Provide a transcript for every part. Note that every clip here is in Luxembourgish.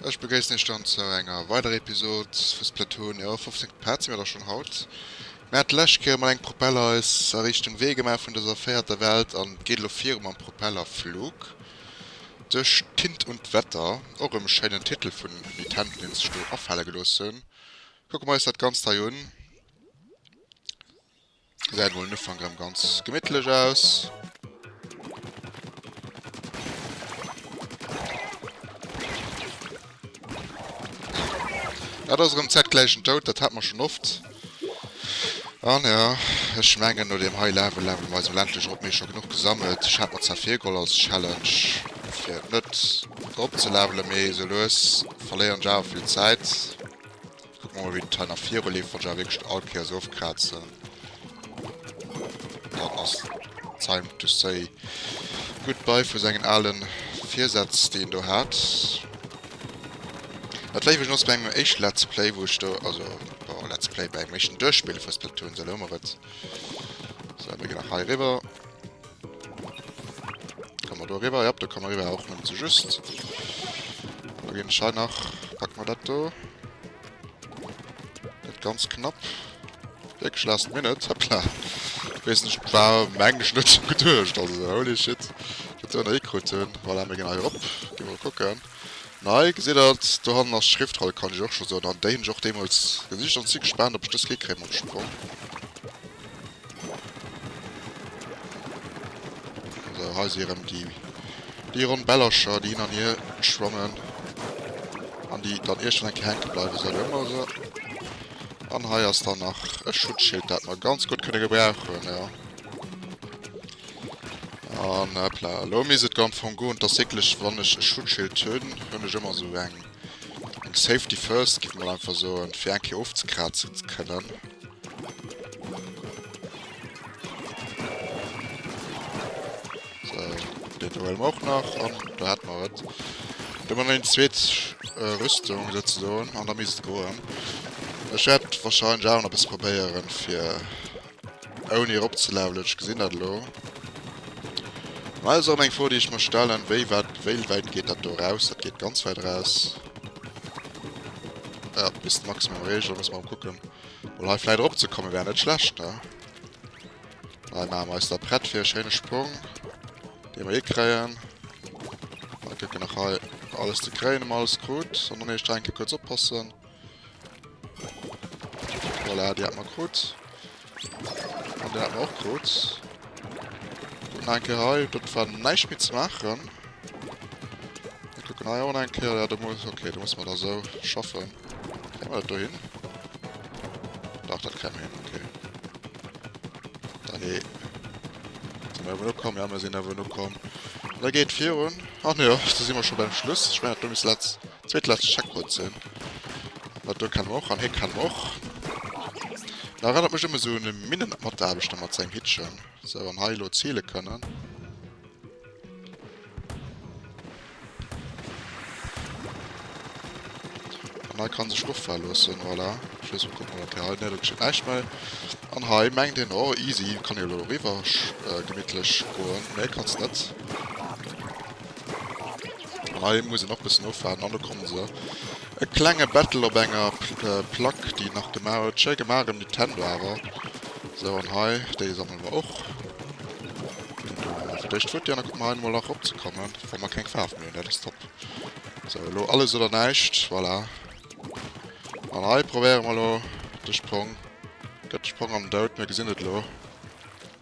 Ech begréissen Iech dann zu enger weiderer Episod vu Splatoon. Jo, 15 Part si mir da schon haut. Mir hat d'lescht Kéier emol eng Propellereis a Richtung Wee gemaach vun dëser véierter Welt an et geet elo viru mam Propellerflug duerch d'Tint und d'Wetter. Och e schéinen Titel vun Nitendo, dee sech do afale gelooss hunn. Kucke mer eis dat Ganzt hei un. Gesäit mol den Ufank rem ganz gemittlech aus. Dat ass rem zeitgläichen Doud, dat hat mer schon oft. An ja, ech mengen no dem high level level mer eis ländlech op mir schon genug gesammelt. Ech hat mer zwar virgeholl als Challenge fir net op ze levelen, mee sou lues verléieren ech awer vill Zäit. Kuck mol wéi d'Teil nach viru leeft, wann ech awer wierklech all Kéier esou oft kraatzen, dann ass time to say goodbye vu sengen ale Virsätz déi en do hat. Dat war iwwregens bei mengem éischte Let's Play wou ech do, also bon Let's Play, bei engem éischten Duerchspille vu Splatoon, esou elo hu mer et. Sou, mir ginn nach hei eriwwer. Kann man do riwer? Ja, do kann man riwer, och nëmmen ze just. Da ginn ech hei nach, packen wir dat do. Net ganz knapp. Wirklich last minute, hoppla. Ich weiß nicht, war eigentlich nicht so gedurcht, also holy shit. Ich hätte da gekriegt, voilà, wir gehen hier op, gehen wir gucken. Nei, gesehen das, da haben wir Schriftroll, kann ich auch schon so, dann den ich auch demals gesicht und sie gespannt, ob ich das gekriegt am Sprung. Sou, hei si erëm déi ronn Bällercher, déi hin an hier schwammen an déi dann iergend eng Kéier hänke bleiwen. Sou, do hu mer se. An hei ass dann nach e Schutzschild, dat mer ganz gutt kënne gebrauchen, jo. An, hoppla, elo misst et go am Fong goen. Tatsächlech, wann ech e Schutzschild hunn, hunn ech ëmmer sou eng. Safety first giff mol einfach soen fir eng Kéier ofzekraatzen ze kënnen. Well och nach an do hat mar et. Wa man eng zweet äh, Rüstung se do an der mist goen. Ech wahrscheinlich auch noch bis probéieren fir Ouni erop ze levelen, ech gesinn dat elo. Mä dat ass erëm eng Fro déi ech mer stellen, wéi wat, wéi wäit geet dat do eraus? Dat geet ganz wäit eraus. Jo, bis de Maximum reecht, da muss mer erëm kucken. Well hei vläit erop ze komme wär net schlecht, ne? Hei maache mer eis da prett fir e schéine Sprong, dee mer eh kréien. Kucken nach hei alles ze kréien, ob mer alles krut. An dann eescht enke kuerz oppassen. Voilà, die hat man krut. An der hat man auch krut. Dann ein Kehr hei, das war nicht mit zu machen. Wir gucken hei auch ein Kehr, ja, da muss, okay, da muss man da so schaffen. Kriegen wir das da hin? Doch, das kriegen wir hin, okay. Dann eh. Sind wir nur kommen, ja, wir sind aber nur kommen. Da geht vier und. Ach ne, da sind wir schon beim Schluss. Ich meine, du bist letzt. Zweet lescht Checkpoint sinn. Well do kennen mer och an hee kennen mer och. Dat erënnert mech ëm esou e Minnen-Mataarbechter mat sengem Hittchen. Sou, an hei elo ziele kënnen. An hei kann sech offae loossen, voilà. Ech weess net, kucke mol, okay, hei, nee, do geschitt näischt méi. An hei mengt een, oh easy, kann ee elo eriwwer gemittlech goen. Nee, kanns net. An hei muss een och bessen ofwaarden an do kommen se. E klenge Battle op enger Plack déi een nach gemaach huet. Schéi gemaach em Nintendo awer. Sou an hei déi sammele mer och. An do hu mer fir d'éischt Futti an da kucke mer hei emol nach erop ze kommen wa mer keng Faarf méi hunn. Dat ass top. Sou elo alles oder näischt. Voilà. An hei probéiere mer elo de Sprong. Gëtt de Sprong an den Doud. Mir gesinn et elo.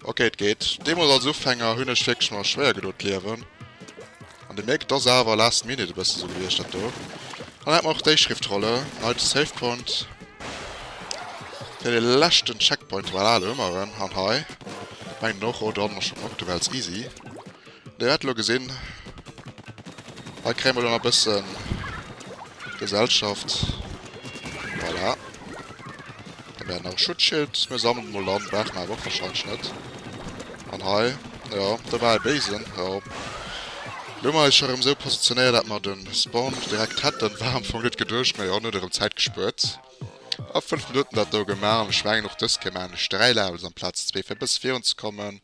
Ok et geet. Deemols als Ufänger hunn ech wierklech mer schwéier gedo d'Liewen an de Mierk et ass awer last minute e bësse sou gewiescht dat do. Dann hätt mer och déi Schriftrolle Neite Save Point fir de leschten Checkpoint. Voilà do hu mer en. An hei mengen och, oh do haten mer schonn och do war als easy. Dir hat elo gesinn, hei kréie mer elo nach e bësse Gesellschaft. Voilà. Hei mär nach e Schutzschild. Mir sammelen emol an, brauche mer awer och warscheinlech net. An hei, jo, do war e Béisen, jo. Elo hu mer eis scho erëm esou positionéiert, dat mer de Spawn direkt hätten. War am Fong net geduecht, mä jo, en huet erëm Zäit gespuert. A fënnf Minutten dat do gemaach. An ech mengen, och dëst kéint een maachen. Ech dräi lafen elo amplaz zwee, fir e bësse virunzekommen.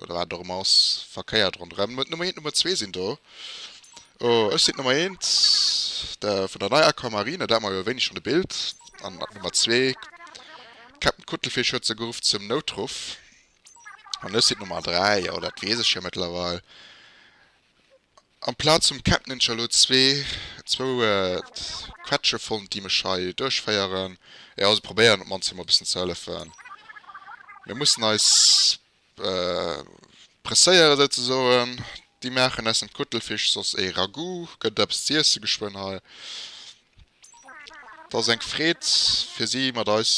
Oder wat et och ëmmer ass, verkéiert ronderëm. D'Nummer 1 an d'Nummer 2 sinn do. Oh, ech sinn d'Nummer 1 de, vun der neier Accor Marina, dat mar jo e wéineg an de Bild. An d'Nummer 2, Captain Kuttelfich huet se geruff zum Noutruff. An ech sinn d'Nummer 3, jo, dat weess ech jo mëttlerweil. Amplaz vum Captain hunn ech elo zwee, zwou Quetsche fonnt, déi mech hei duerchféieren. Jo, se probéieren op d'mannst fir mer e bëssen ze hëllefen. Mir mussen eis Presséieren souzesoen, déi maachen aus dem Kuttelfisch soss ee Ragout, gëtt eppes z'iessen geschwënn hei. Et ass eng Freed fir si mat eis,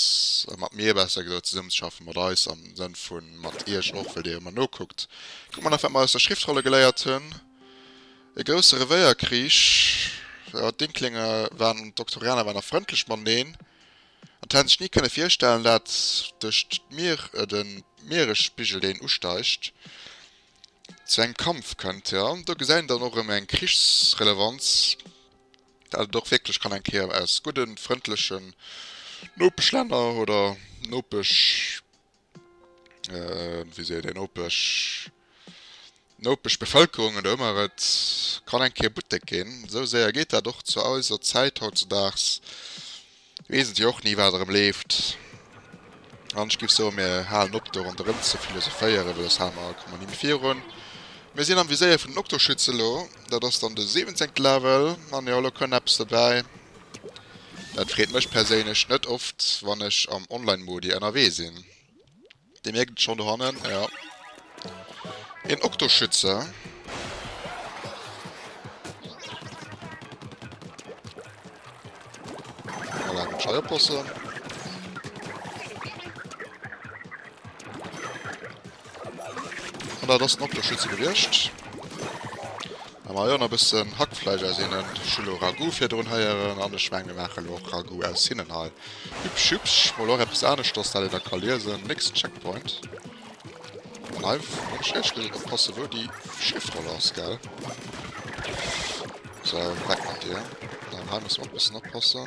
mat mir besser gesot, zesummen ze schaffen, mat eis am Sënn vu mat iech och, well dir jo ëmmer nokuckt. Kuck mol nach wat mer aus der Schriftrolle geléiert hunn, E grousse Revéierkrich, jo, d'Inklinge waren, d'Oktorianer waren nach frëndlech mateneen. An d'Hänn sech ni kënne virstellen, dat duercht d'Mier, de Mieresspigel deen usteigt, zu engem Kampf kënnt. Jo, do gesäit een dann och erëm eng Krichsrelevanz, dat et och wierklech kann eng Kéier aus gudden, frëndlechen Nopeschlänner oder Nopesch, wéi seet een, nopeg, nopeg Bevëlkerung oder ëmmer, et kann eng Kéier Buttek ginn. Esou séier geet dat och zu eiser Zäit hautzedaags, weess et jo och ni, wat erëm leeft. An ech géif soen, mir halen op, do ronderëm ze philosophéieren, well elo hale mer, komme mer ni méi virun. Mir sinn am Viséier vun den Oktoschütz elo, dat ass dann de siwenzéngte Level. An jo, elo kënn eppes dobäi. Dat freet mech perséinlech net oft wann ech am online Modi ennerwee sin. Dir mierkt et schon dohannen jo. Een Oktoschütze. Voilà den Schei oppossen. An dat ass den Dokter Schütze gewiescht. Da man jo nach bëssen Hackfleisch aus hinnen. Ech hu lo Ragout virdrun heieren an ech mengen mir maachen lo och Ragout aus hinnen hei. Hübsch hübsch, mol och eppes aneschters dat een da ka liesen. Nächsten Checkpoint. An hei muss ech éierlech gesot oppassen wou déi Schriftroll ass gell. Sou, weg mat dir. An hei muss mer och bëssen oppassen.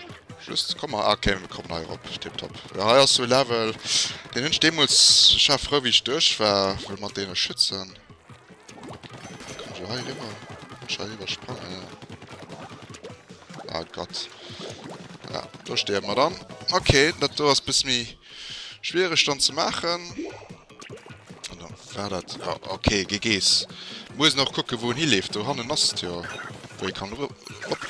Just, komm hei, ok mir kommen hei erop, tiptop. Jo hei ass sou e Level, deen hunn ech deemools, ech war frou wéi ech duerch war, wëll mat deene Schützen, kann ech lo hei eriwwer, muss ech hei iwwersprangen, jo, ah Gott, jo do stierwe mer dann, ok, dat do ass e bësse méi schwiereg dann ze maachen. War dat ok gi gees muss nach kucke wou en hi leeft do hannen ass jo wou ee kann op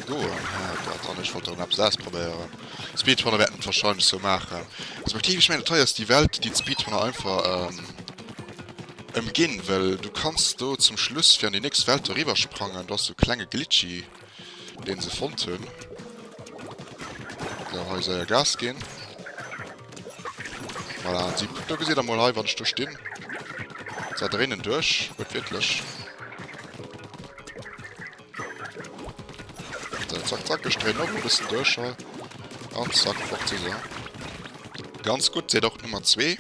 goen dat han ech wollt eppes ausprobéieren speedrunner wäerten et wahrscheinlech sou maachen respektiv ech mengen et hei ass déi welt déi d'speedrunner einfach ëmginn well du kanns do zum schluss fir an déi nächst welt eriwwersprangen do ass sou klenge glitchy Deen se fonnt hun. Gau hei seier Gas gin. Voilà, an si. Do gesitt der mol hei, wann ech do stin. Seit der innen duerch, huet wierklech. Sou, zack, zack, ech dréin op e bëssen duerch hei. An zack, fort si se. Ganz gutt, seet och d'Nummer zwee.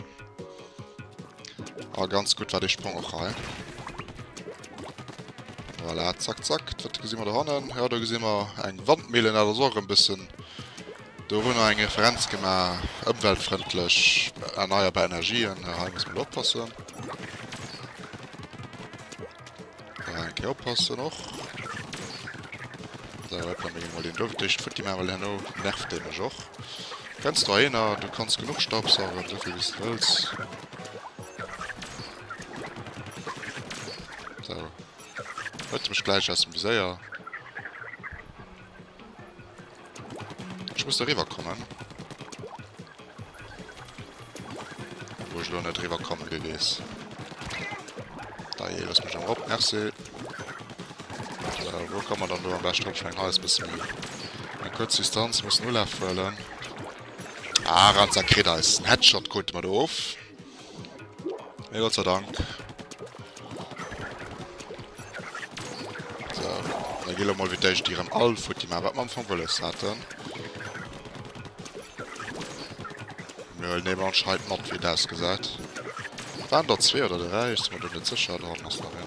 Oh, ganz gutt war dee Sprong och hei. Voilà, zack, zack. Wat gesinn mer do hannen? Ja, do gesinn mer eng Wandmille, dat ass och e bëssen dorunner eng Referenz gemaach. Ëmweltfrëndlech, erneierbar Energien. Hei muss mer oppassen. Äh, eng Kéier oppassen och. Sou, hop, da menge mol deen do d'éischt futti maachen, well herno nervt dee mech och. Kenns du Haienner? Du kanns genuch Staubsaugen, esou vill wéi s du wëlls. Sou. Huet e mech gläich aus dem Viséier. Ech muss do riwwer kommen. Wou ech elo net riwwer komme wéi weess. Da je, lass mech am op, merci. Äh, wou kann man dann do am best drop schwéngen? Hei ass bësse méi gutt. Eng kuerz Distanz, mussen Ulaf huelen. Ah, Ranzer kritt eis. En Headshot krute mer do of. Ja, Gott sei Dank. So, dann gehen wir mal wieder die Rem all von die Map, was wir am Anfang wollen hatten. Wir nehmen wir anscheinend mit, wie das gesagt. Waren da zwei oder drei? Ich bin mir nicht sicher, da haben wir es noch hin.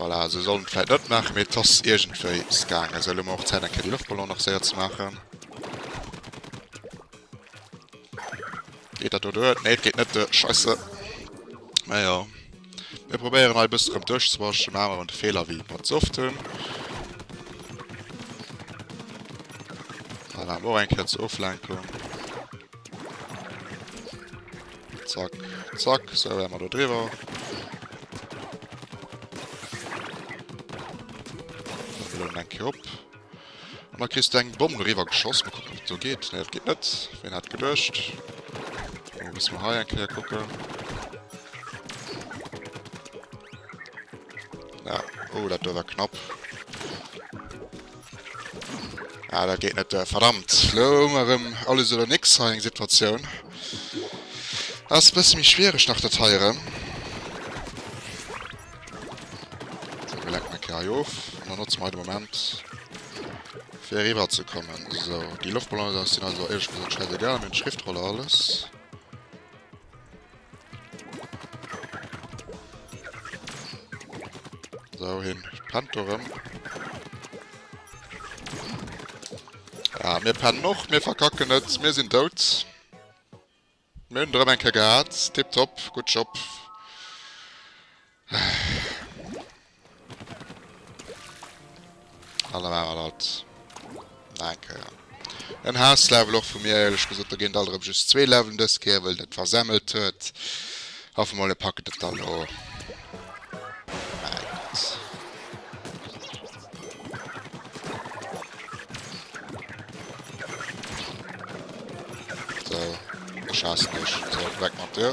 Voilà, esou soll et vläit net maachen, mee et ass iergendwéi es gaangen. Esou, elo hu mer och Zäit eng Kéier déi Loftballone nach séier ze maachen. Geet dat do duer? Nee, et geet net duer. Scheisse. Mä jo. Mir probéieren hei e bëssen erëm duerchzewaschen, maachen awer de Feeler wéi mer ze oft hunn. Voilà, och eng Kéier zur Oflenkung. Zack, zack, so wären wir da drüber. Dann ein Kiop. Und dann kriegst du einen Bomben drüber geschossen. Mal gucken, ob so geht. Ne, das geht nicht. Wen hat gedurcht? Dann müssen wir hier ein Kier gucken. Ja, oh, das war knapp. Ah, dat geet net. Verdammt. Lo hu mer erëm alles oder nix hei eng Situatioun. Ass e bësse méi schwiereg nach dat hei erëm. Sou, mir lenken eng Kéier hei of. An dann notze mer hei de Moment, fir eriwwerzekommen. Sou, déi Loftballonen sinn also, éierlech gesot, schäisegal. Mir hunn d'Schriftroller alles. So, hin. Pennt dorem. Ja, mir pennen noch, mir verkacken net, mir sinn dout. Mir hunn drem enke gehat. Tipptopp, gutt Job. Alle war dat Naker. En Haaslevel och vu mir eierlech gesot, da géint alt erëm just zwee Levelen dës Kéier, wëll dat versemmelt huet. Hoffe mol e packet et dann o. Sou, ech haassen dech. Sou, weg mat dir.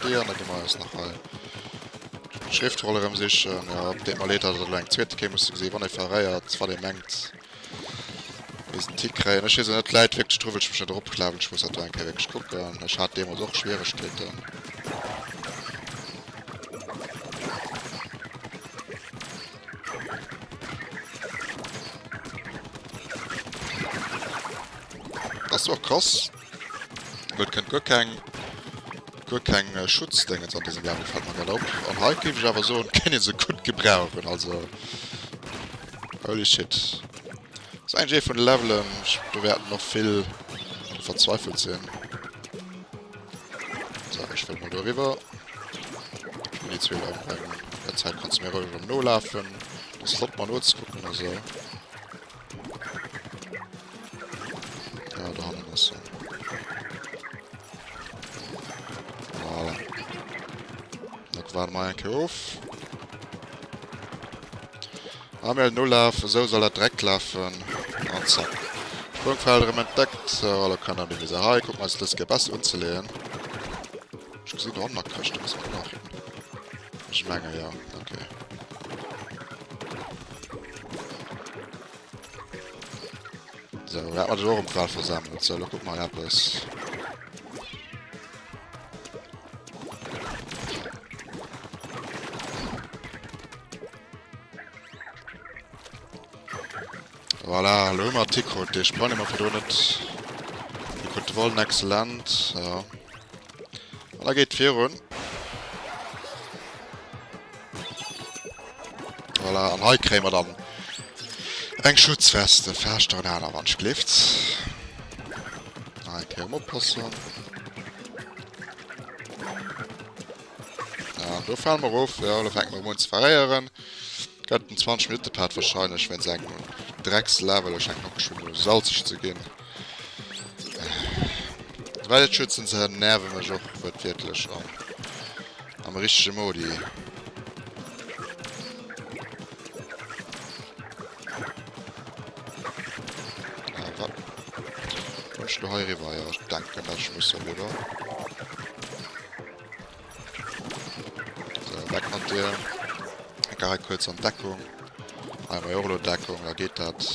Deier net ëmmer ass nach hei. Schriftrolle rëm sichen, ja, op deem Erleter dat elo eng zweete kéim, muss gesinn, wann ee verréiert, wat ee mengt, bis en Tick kréien. Ech weess elo net, d'Läit wierklech dru, wëll ech mech net eropklawen. Ech muss dat do eng Kéier wierklech kucken. Ech hat deemools och Schwieregkeeten. Das war krass. Wird kennt gar kein gar kein äh, Schutzding jetzt an diesem Level fällt mir gerade auf. Und halt gebe ich aber so und kann ihn so gut gebrauchen. Also holy shit. Das ist eigentlich eh von Leveln. Ich bewerte noch viel verzweifelt sehen. So, ech wëll mol do riwwer. An déi zwee laufen bei mir. An der Zäit kanns du mir roueg erëm nolafen. Dat ass flott, mer nozekucken a sou. Ja, do hannen ass en. Voilà. Dat waren mer enke of. Amel nolaf, esou soll dat dreckt lafen an zack Sprungfeld erem entdeckt. Sou hallo Kanner, mir si hei, kucken eis dës Gear bessi unzeleeën. Ech gesin do hanner Këschten, muss mer nach hin, ech menge jo, ok. Sou dat mer dech och am Quad versammelt, sou lo kuck mer eppes. Voilà, lo hu mer Tikrot, dee Sprang, dee mer virdrun net... Dee krut de Vollen excellent, jo. An da geet et virun. Voilà, an hei kréie mer dann eng Schutzweste, vlächcht nach en aner wann ech gleeft. Hei kéier mer oppassen. An do fale mer erof, jo, lo fänke mer erëm un ze verréieren. Gëtt en 20 Minutte Part wahrscheinlech, wéinst engem Dreckslaver. Lo schengt d'Macke schonn u salzeg ze ginn. Well et schützen se nerve mech och wuertwiertlech an am richtege Modi. Ech lo hei eriwwer, jo, ech denken dat ech muss eriwwer. Weg mat dir. Ga hei kuerz an Deckung. Hei mei Orlo Deckung, da geet dat.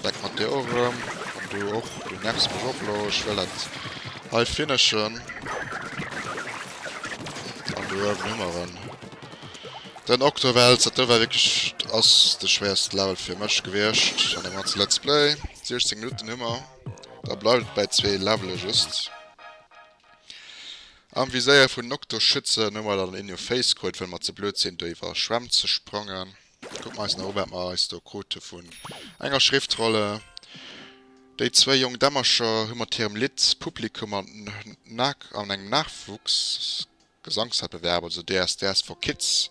Weg mat dir och rëm. An du och, du nervs mech och lo. Ech wëll dat hei finishen. An do uewen hu mer en. Den Octowelts, dat do war wierklech, ass de schwéierste Level fir mech gewiescht an deem ganze Let's Play. 16 Minutten hu mer. Da bleift et bäi zwee Levele just. Am Viséier vun Nocto schützen hu mer dann een jo Face krut, well mer ze blöd sinn do iwwer Schwämm ze sprangen. Kucke mer eis nach u wat mer eis do krute vun enger Schriftrolle. Déi zwéi jonk Dämmercher hu mat hirem Lidd d'Publikum an an engem Nachwuchsgesangszäit bewerbt, also DSDS for Kids.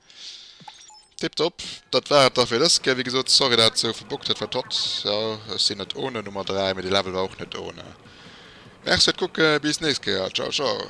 Tiptop, dat war et da fir dës Kéier. Wéi gesot, sorry dat et sou verbuggt huet, wat hott. Jo, ech sinn net ohne Nummer 3, mee de Level war och net ohne. Merci fir d'Kucke, bis nächst Kéier, ciao ciao.